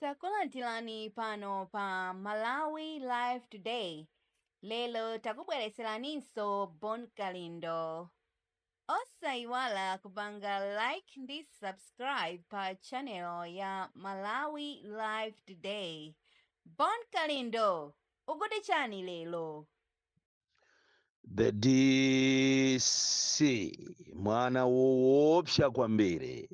Takulandirani pano pa Malawi Live Today. Lero takubweretseraninso Bon Kalindo. Osayiwala kupanga like ndi subscribe pa channel ya Malawi Live Today. Bon Kalindo, ukuti chani lero? the dc mwana woopsa kwambiri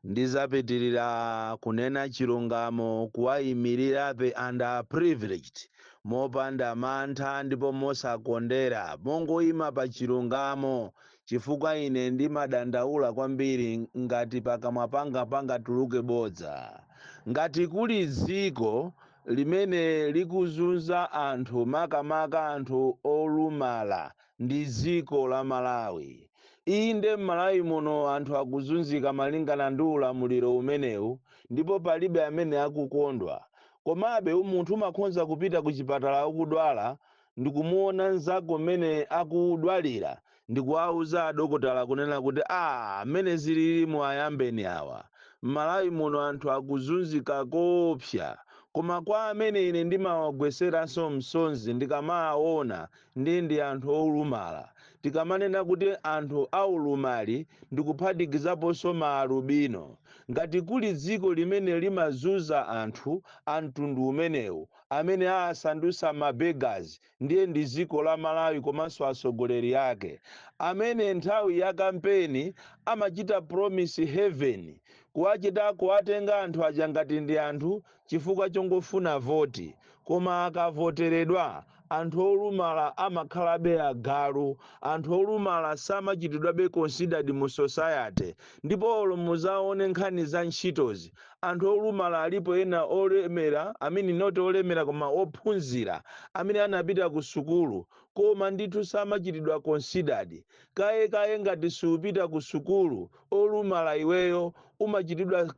ndizapitirira kunena chilungamo kuwayimirirabe underprivileged mopanda mantha ndipo mosakondera mongoyima pa chilungamo chifukwa ine ndimadandaula kwambiri ngati pakamwa panga pangatuluke bodza ngati kuli dziko limene likuzunza anthu makamaka anthu olumala ndi dziko la Malawi. Inde m'Malawi muno anthu akuzunzika malingana ndi ulamuliro umenewu ndipo palibe amene akukondwa. Komabe munthu umakhonza kupita kuchipatala ukudwala ndikumuona nzako mmene akudwalira ndikuwauza adokotala kunena kuti aah mmene zililimu ayambeni awa. Mmalawi muno anthu akuzunzika koopsa koma kwa amene ine ndimawagweseranso msonzi ndikamaawona ndiye ndi anthu olumala. Tikamanena kuti anthu a ulumali ndikuphatikizaponso ma alubino. Ngati kuli dziko limene limazunza anthu a mtundu umenewu amene aasandutsa ma beggars ndiye ndi dziko la Malawi komanso atsogoleri ake amene nthawi ya kampeni amachita promise heaven kuwachita kuwatenga anthu aja ngati ndi anthu chifukwa chongofuna voti koma akavoteredwa anthu olumala amakhalabe agalu anthu olumala samachitidwabe considered mu society ndipo olo muzaone nkhani za ntchitozi Anthu olumala alipo ena olemera, I mean not olemera koma ophunzira amene anapita ku sukulu koma ndithu samachitidwa considered. Kaye kaye ngati siupita ku sukulu olumala iweyo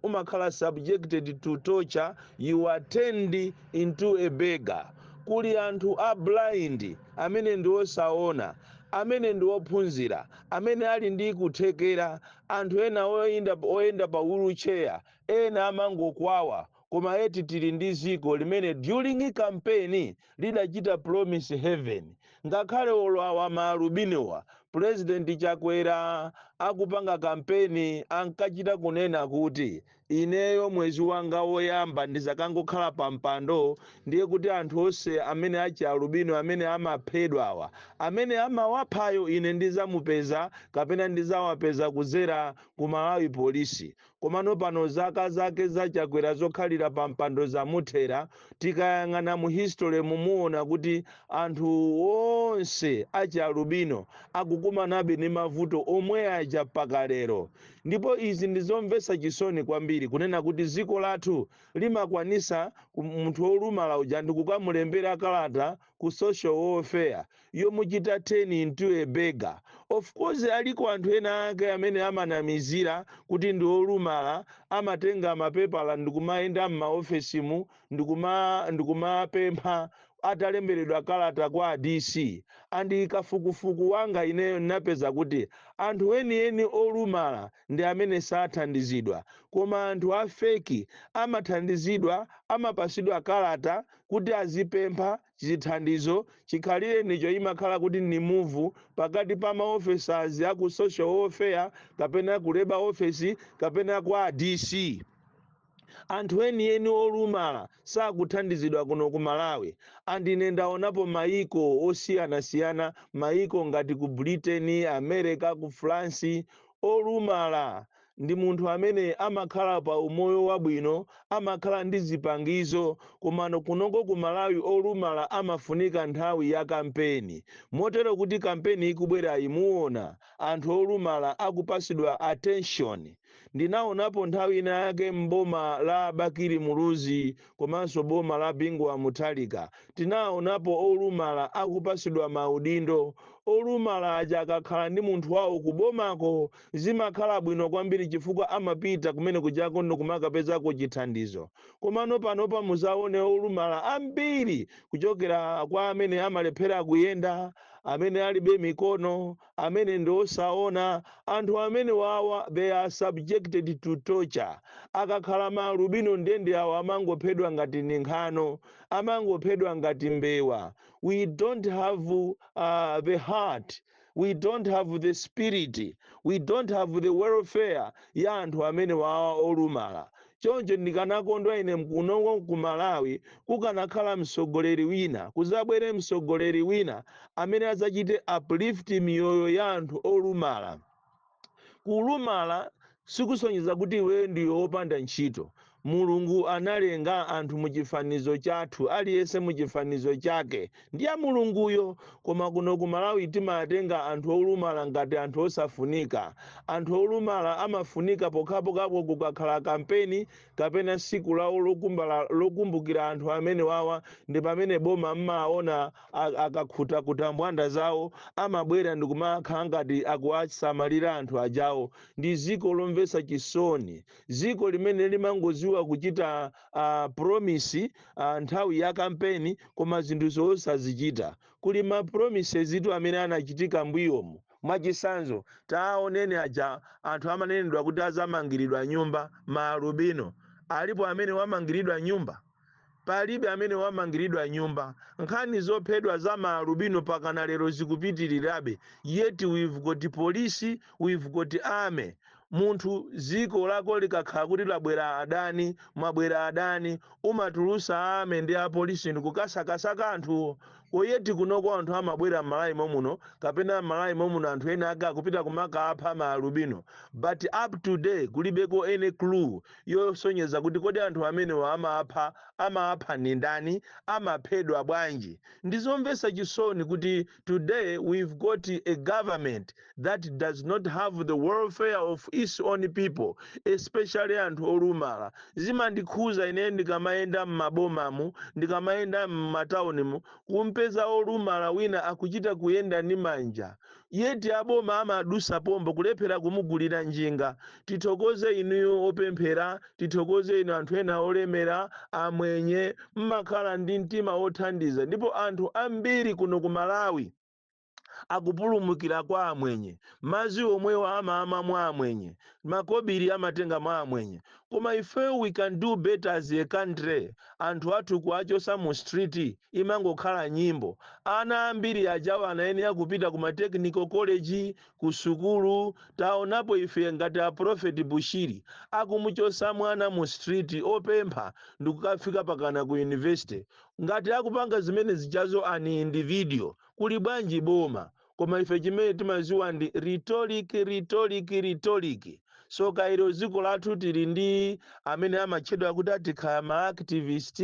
umakhala subjected to torture, you are turned into a beggar. Kuli anthu a blind amene ndi osaona amene ndi ophunzira amene ali ndi kuthekera Anthu ena oyenda pa wheelchair ena amangokwawa koma eti tili ndi ziko limene during campaign lidachita promise heaven ngakhale olo awa ma alubinowa president chakwera akupanga campaign ankachita kunena kuti Ineyo mwezi wanga woyamba ndizakangokhala pa mpando ndiye kuti anthu onse amene achi alubino amene amaphedwawa, amene amawaphayo ine ndizamupeza kapena ndizawapeza kudzera ku Malawi Police. Komano pano zaka zake za Chakwera zokhalira pa mpando zamuthera, tikayang'ana mu history mumuona kuti anthu onse achi alubino akukumanabe ndi mavuto omwe aja mpaka lero. Ndipo izi ndi zomvetsa chisoni kwambiri kunena kuti dziko lathu limakwanitsa ku, munthu wolumala uja ndikukamulembera kalata ku social welfare yomuchita turn into a beggar. Of course aliko anthu ena ake amene amanamizira kuti ndi olumala amatenga mapepala ndikumayenda mma ofesimu ndikuma ndikumapempha atalemberedwa kalata kwa a DC and kafukufuku wanga ineyo napeza kuti anthu enieni olumala ndi amene sathandizidwa koma anthu a fake amathandizidwa amapasidwa kalata kuti azipempha chithandizo chikhalirenicho imakhala kuti ni move pakati pa ma officers a ku social welfare kapena ku labor office kapena kwa a DC Anthu enieni olumala sakuthandizidwa kuno ku Malawi and ine ndaonapo maiko osiyanasiyana maiko ngati ku Britain, America, ku France olumala ndi munthu amene amakhala pa umoyo wabwino amakhala ndi zipangizo komano kunoko ku Malawi olumala amafunika nthawi ya kampeni motero kuti kampeni ikubwerayi muona anthu olumala akupasidwa attention Ndinaonapo nthawi ina yake m'boma la Bakili Muluzi komanso boma la Bingu wa Mutharika. Tinaonapo olumala akupasidwa ma udindo. Olumala aja akakhala ndi munthu wawo ku bomako zimakhala bwino kwambiri chifukwa amapita kumene kujako ndikumakapezako chithandizo. Komano panopa muzaone olumala ambiri kuchokera kwa amene amalephera kuyenda, amene alibe mikono, amene ndi osaona, anthu amene wawa they are subjected to torture, akakhala ma alubino ndiye ndi awo amangophedwa ngati ni nkhano, amangophedwa ngati mbewa, we don't have the heart, we don't have the spirit, we don't have the welfare ya anthu amene wawa olumala, choncho ndikanakondwa ine kunoko ku Malawi kukanakhala mtsogoleri wina, kuzabwere mtsogoleri wina amene azachite uplift miyoyo ya anthu olumala. Kulumala sikusonyeza kuti iwe ndiwe wopanda ntchito. Mulungu analenga anthu muchifanizo chathu, aliyense muchifanizo chake. ndiye Mulunguyo koma kuno ku Malawi timatenga anthu olumala ngati anthu osafunika. Anthu olumala amafunika pokhapokhapo kukakhala kampeni kapena tsiku lawo lokumbukira anthu amenewawa ndi pamene boma mmaona a- akakhutakhuta mbwanda zawo amabwera ndikumakhala ngati akuwasamalira anthu ajawo. Ndi dziko lomvetsa chisoni, dziko limene limangodziwa kuchita uh, promise uh, nthawi ya kampeni koma zinthu zosazichita kuli ma promises itu amene anachitika mbuyomu mwachisanzo taoneni aja anthu amanenedwa kuti azamangiridwa nyumba ma alubino alipo amene wamangiridwa nyumba palibe amene wamangiridwa nyumba nkhani zophedwa za maalubino pakana lero zikupitirirabe yet we've got police we've got army Munthu ziko lako likakhala kuti labwera adani, mwabwera adani, umatulusa army ndi apolisi ndikukasakasaka anthuwo. Ko yet kunoko anthu amabwera m'Malawi momuno kapena m'Malawi momuno anthu ena ake akupita kumakapha ma alubino but up to date kulibeko any clue yosonyeza kuti kodi anthu amenewa amapha amapha ndindani, amaphedwa bwanji. Ndizomvesa chisoni kuti. today we've got a government that does not have the welfare of its own people especially anthu olumala zimandikhuza ineyo ndikamayenda m'mabomamu ndikamayenda m'mataunimu kumpeza olumala wina akuchita kuyenda ndi manja yet aboma amadusa pompo kulephera kumugulira njinga tithokoze inuyo opemphera Tithokoze inu anthu ena olemera, amwenye, mmakhala ndi mtima wothandiza ndipo anthu ambiri kuno ku Malawi akupulumukira kwa amwenye. Madzi omwewo amamwa mwa amwenye, makobiri amatenga mwa amwenye. Koma ife we can do better as a country, anthu athu kuwachotsa mu street imangokhala nyimbo. Ana ambiri ajawa anayenera kupita ku ma technical college, Ku sukulu taonapo ife ngati a prophet Bushiri akumuchosa mwana mu street opempha ndikukafika pakana ku university. Ngati akupanga zimene zijazo an individual kuli bwanji boma? Koma ife chimene timaziwa ndi rhetoric, rhetoric, rhetoric. soka ilo dziko lathu tili ndi amene amatchedwa kuti atikhala ma activist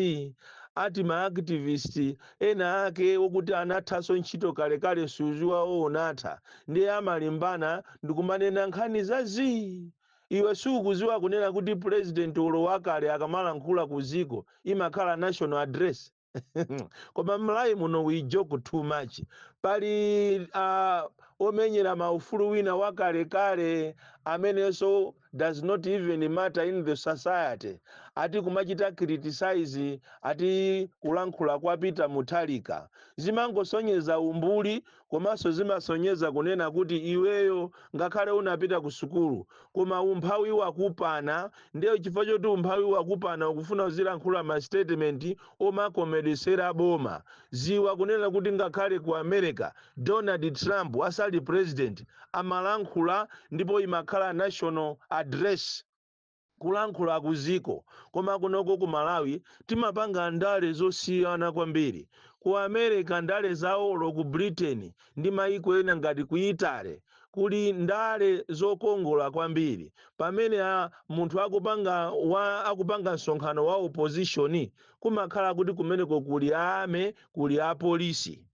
ati ma activist ena ake okuti anathanso ntchito kalekale msuzi wawo unatha ndiye amalimbana ndikumanena nkhani za zii iwe sukuziwa kunena kuti president ulo wakale akamalankhula ku dziko imakhala national address koma malawi muno we joke too much pali uh, omenyera maufulu wina wakalekale amenenso does not even matter in the society ati kumachita criticize ati kulankhula kwa peter mutharika zimangosonyeza umbuli Komanso zimasonyeza kunena kuti iweyo ngakhale unapita kusukulu koma umphawi wakupana ndiye chifukwa choti umphawi wakupana ukufuna uzilankhula ma statement omakomedwesera boma. Dziwa kunena kuti ngakhale ku America Donald Trump asali president amalankhula ndipo imakhala national address. kulankhula ku ziko koma kunoko ku malawi timapanga ndale zosiyana kwambiri ku america ndale zawo olo ku britain ndi maiko ena ngati ku italy kuli ndale zokongola kwambiri pamene a munthu akupanga akupanga msonkhano wa opposition kumakhala kuti kumeneko kuli a army kuli apolisi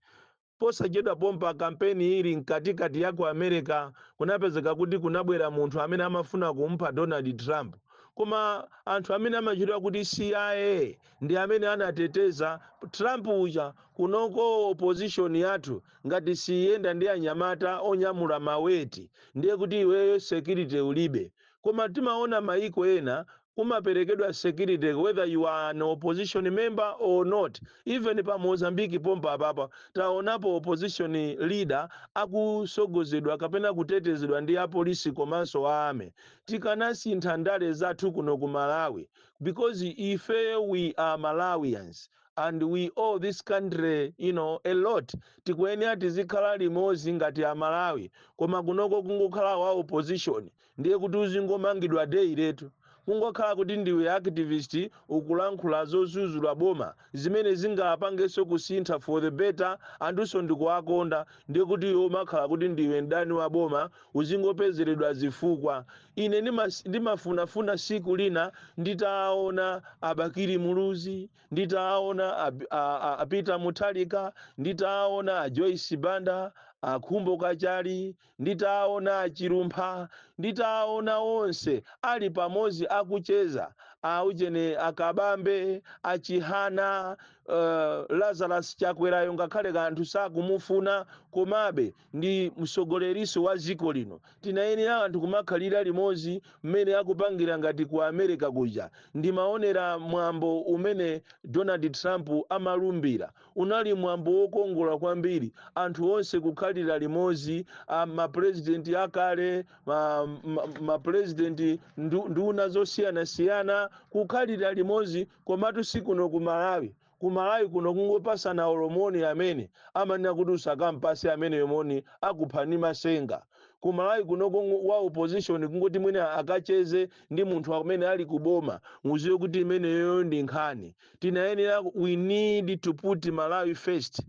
Posachedwa pompa kampeni ili mkatikati ya ku America kunapezeka kuti kunabwera munthu amene amafuna kumupha Donald Trump koma anthu amene amatchedwa kuti CIA ndi amene anateteza Trump uja kunoko opposition yathu ngati siyiyenda ndi anyamata onyamula ma weti ndiye kuti iweyo security ulibe koma timaona mayiko ena kumaperekedwa security whether you are an opposition member or not even pa Mozambique pompa papa taonapo opposition leader akusogozedwa kapena kutetezedwa ndi apolisi komanso a army tikanasintha ndale zathu kuno ku Malawi because ifeyo we are Malawians and we owe this country you know a lot tikuyenera tizikhala limodzi ngati a Malawi koma kunoko kungokhala wa opposition ndiye kuti uzingomangidwa daily letu kungokhala kuti ndiwe activist ukulankhula zozuzula boma zimene zingapangenso kusintha for the better anthunso ndikuwakonda ndiye kuti iwe umakhala kuti ndiwe mdani wa boma uzingopezeredwa zifukwa ine ndimas- ndimafunafuna siku lina nditaona a bakili muluzi nditaona Ab- a- a- a Peter mutharika nditaona a joyce banda a khumbo kachali Nditaona a Chilumpha, nditaona onse ali pamodzi akucheza, aujeni, a Kabambe, a Chihana, uh, Lazarus Chakwerayo ngakhale anthu sakumufuna komabe ndi msogoleriso wa dziko lino. Tinayenera anthu kumakhalira limodzi mmene akupangira ngati ku America kuja. Ndimaonera mwambo umene Donald Trump amalumbira. Unali mwambo wokongola kwambiri, anthu onse kukhalira limodzi, a, ma Purezidenti akale, ma, ma, ma Purezidenti, ndu, nduna zosiyanasiyana, kukhalira limodzi, komatu si kuno ku Malawi. Ku Malawi kuno kungopasana olo moni amene, amanena kuti usakampase ameneyo moni akupha ndi ma senga. Ku Malawi kuno kungo, wa opposition kungoti mwina akacheze ndi munthu amene ali ku boma, mudziwe kuti imeneyoyo ndi nkhani. tinayenera we need to put malawi first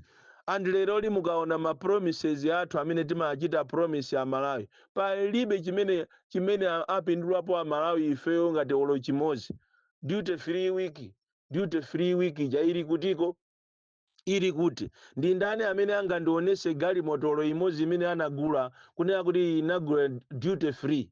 and lerolino mukaona ma promises athu amene timachita promise a malawi palibe chimene chimene a- apindulapo a malawi ifeyo ngati olo chimodzi duty free week duty free week ija ili kutiko Ili kuti? Ndi ndani amene angandionetse galimoto olo imodzi imene anagula kunena kuti iyi inagula duty free?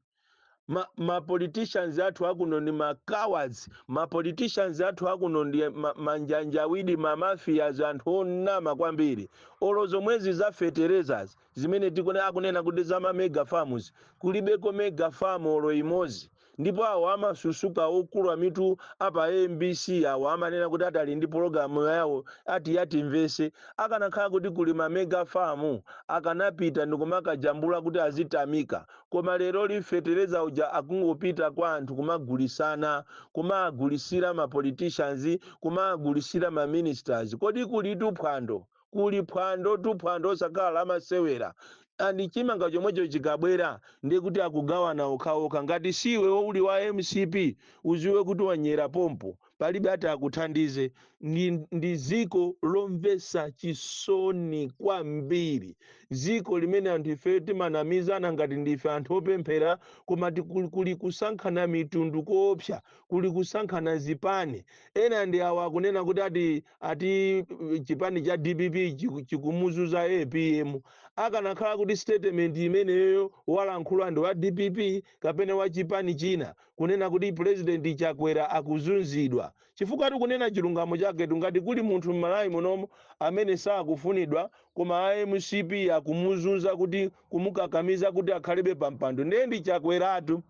Ma, ma politicians athu akuno ndi ma cowards. Ma politicians athu akuno ndi ma, manjanjawidi, ma mafias, anthu onama kwambiri. Olo zomwezi za fertilizers zimene tikuona akunena kuti za ma mega farms kulibeko mega farm olo imozi ndipo awo amasusuka okula mitu apa a mbc awo amanena kuti ati ali ndi pologalamu yawo ati ya Timvetse akanakhala kuti kuli ma mega farm akanapita ndikumakajambula kuti azitamika koma leroli fetereza uja akungopita kwa anthu kumagulisana kumagulisira ma politicians kumagulisira ma ministers kodi kulitu phwando kuli phwando tu phwando losakhala la masewera and chimanga chomwecho chikabwera ndiye kuti akugawana okhaokha ngati siiwe uli wa mcp uziwe kuti wanyera pompo palibe ati akuthandize ndi, ndi ziko lomvesa chisoni kwambiri ziko limene anthu ifeyo timanamizana ngati ndife anthu opemphera koma tikuli kuli kusankhana mitundu koopsa kuli kusankhana zipani. Ena ndi awa akunena kuti ati ati chipani cha dpp chiku- chikumuzunza apm. Akanakhala kuti statement imeneyoyo walankhula ndi wa dpp kapena wa chipani china kunena kuti president Chakwera akuzunzidwa. Chifukwa tikunena chilungamo chaketu ngati kuli munthu m'Malawi munomo amene sakufunidwa koma a mcp akumuzunza kuti kumukakamiza kuti akhalebe pampando ndiye ndi Chakweratu.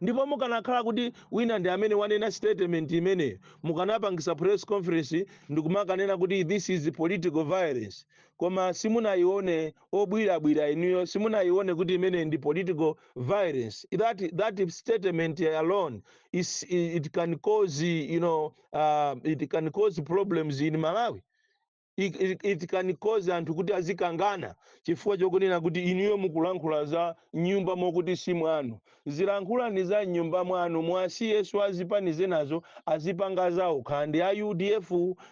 ndipo mukanakhala kuti wina ndi amene wanena statement imeneyo mukanapangisa press conference ndikumakanena kuti this is political violence koma simunayione obwirabwira inuyo simunayione kuti imeneyi ndi political violence that, that statement alone is, it can cause you know, uh, it can cause problems in malawi It, it, it can cause anthu kuti azikangana chifukwa chokunena kuti inuyo mukulankhula za mnyumba mokuti si mwanu zilankhulani za mnyumba mwanu muwasiyeso a zipani zinazo azipanga zawo kaya ndi a udf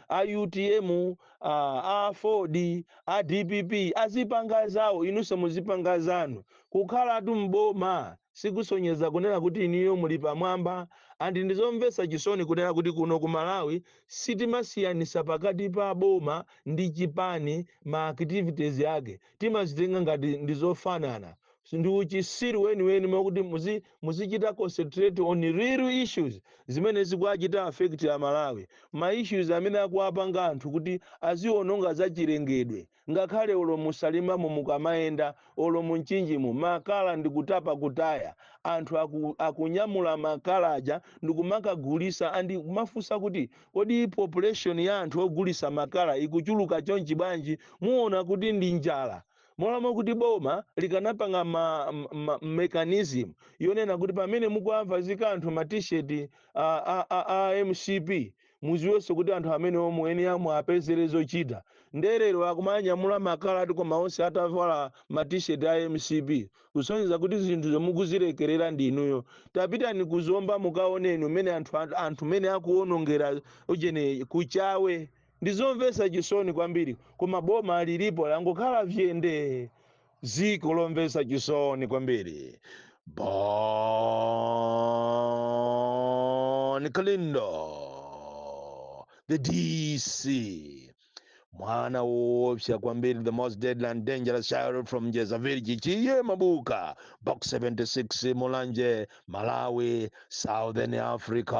a utm a, aford a dpp azipanga zawo inunso muzipanga zanu kukhalatu mboma sikusonyeza kunena kuti inuyo muli pamwamba and ndizomvetsa chisoni kunena kuti kuno ku Malawi sitimasiyanitsa pakati pa boma ndi chipani ma activities yake timazitenga ngati ndizofanana ndi uchitsiru weniweni mokuti muzi, muzichita concentrate on real issues zimene zikuachita affect a Malawi ma issues amene akuwapanga anthu kuti aziononga zachilengedwe ngakhale olo mu salimamo mukamayenda olo mu mchinjimo makala ndikutapa kutaya anthu aku, akunyamula makala aja ndikumakagulisa andi kumafunsa kuti kodi population ya anthu ogulisa makala ikuchuluka chonchi bwanji muona kuti ndi njala molo moti kuti boma likanapanga ma, ma mechanism yonena kuti pamene mukuwavazika anthu ma t-shirt a, a, a, a mcp muziwenso kuti anthu amenewo muyenera muwapezele zochita nde lero akumanyamula makala koma onse atavala ma t-shirt a mcp kusonyeza kuti zinthuzo mukuzilekelera ndi inuyo tapitani ku zomba mukaoneni mmene anthu anthu mene akuonongera ujeni kuchawe ndizomvesa chisoni kwambiri koma boma lilipo langokhala vyendee dziko lomvetsa chisoni kwambiri bon kalindo the dc mwana woopsa kwambiri the most deadly and dangerous child from njeza village chief mabuka box 76 mulanje malawi southern africa